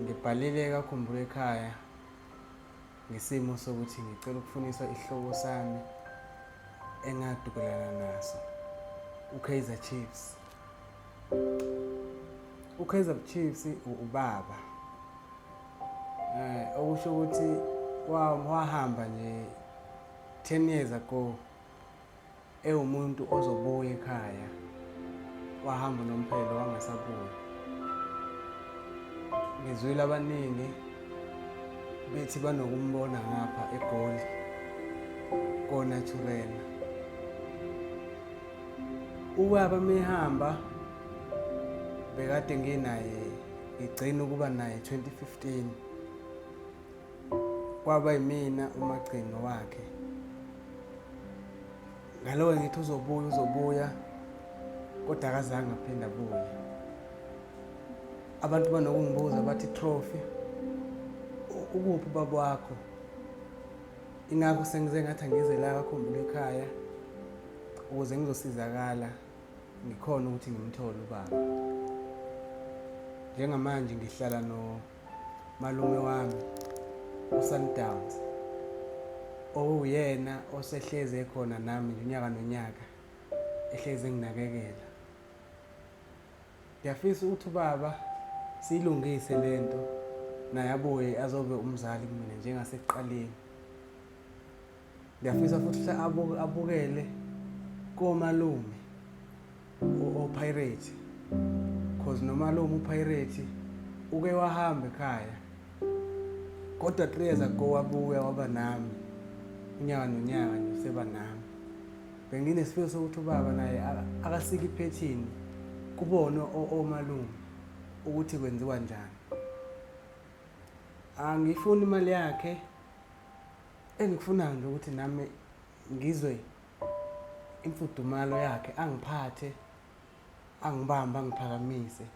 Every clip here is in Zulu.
Ngibhalile kaKhumbulo ekhaya ngesimo sokuthi ngicela ukufuniswa isihloko sami engadukelana naso uKaizer Chiefs. UKaizer Chiefs ubaba eh okusho ukuthi wahamba nje 10 years ago ewumuntu ozobuya ekhaya wahamba nomphelo wangasabuya ngizwile abaningi bethi banokumbona ngapha egoli kona thukela ubaba mehamba bekade nginaye ngigcina ukuba naye 2015 kwaba yimina umagcino wakhe ngalowo ngithi uzobuya uzobuya kodwa akazange aphinde abuye abantu banokungibuza bathi trophy ukuphi ubaba wakho ingakho sengize ngathi angize la kakhumbula ekhaya ukuze ngizosizakala ngikhona ukuthi ngimthole ubaba njengamanje ngihlala no malume wami uSundowns owuyena osehlezi ekhona nami unyaka nonyaka ehlezi enginakekela ngiyafisa ukuthi ubaba siyilungise le nto naye abuye azobe umzali kumina njengasekuqaleni ngiyafisa futhi ukuthi abu- abukele komalume o- opirate cause nomalume upirate uke wahamba ekhaya kodwa three years ago wabuya waba nami unyaka nonyaka nje useba nami benginesifiso sokuthi ubaba naye aka- akasike iphethini kubone o- omalume ukuthi kwenziwa njani angiyifuni imali yakhe Engikufunayo nje ukuthi nami ngizwe imfudumalo yakhe angiphathe angibambe angiphakamise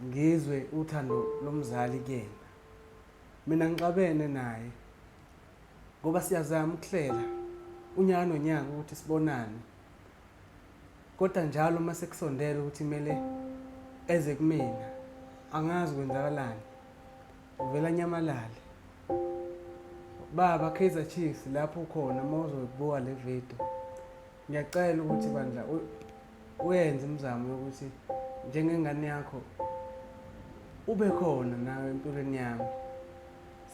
ngizwe uthando lomzali kuyena mina ngixabene naye ngoba siyazama ukuhlela unyaka nonyaka ukuthi sibonane kodwa njalo uma sekusondela ukuthi kumele eze kumina angazi kwenzakalani Uvela anyamalale. Baba Kaizer Chiefs lapho ukhona uma uzoyibuka le video. Ngiyacela ukuthi bandla uyenze imizamo yokuthi njengengane yakho ube khona nawe empilweni yami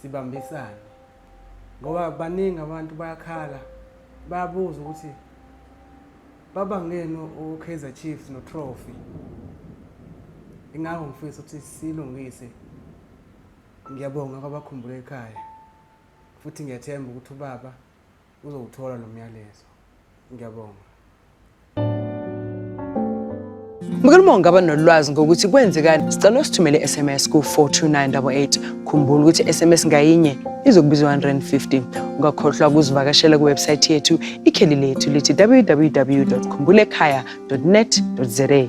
sibambisane ngoba baningi abantu bayakhala bayabuza ukuthi Baba ngenu uKaizer Chiefs no trophy. Ingakho ngifisa ukuthi silungise. Ngiyabonga kwabakhumbule ekhaya. Futhi ngiyathemba ukuthi ubaba uzowuthola lo myalezo. Ngiyabonga. Mkhulu uma ungaba nolwazi ngokuthi kwenzekani, sicela usithumele i-SMS ku-42988. Khumbula ukuthi i-SMS ngayinye izokubiza 150. Ungakhohlwa ukuzivakashela kuwebsayithi yethu ikheli lethu lithi www.khumbulekhaya.net.za.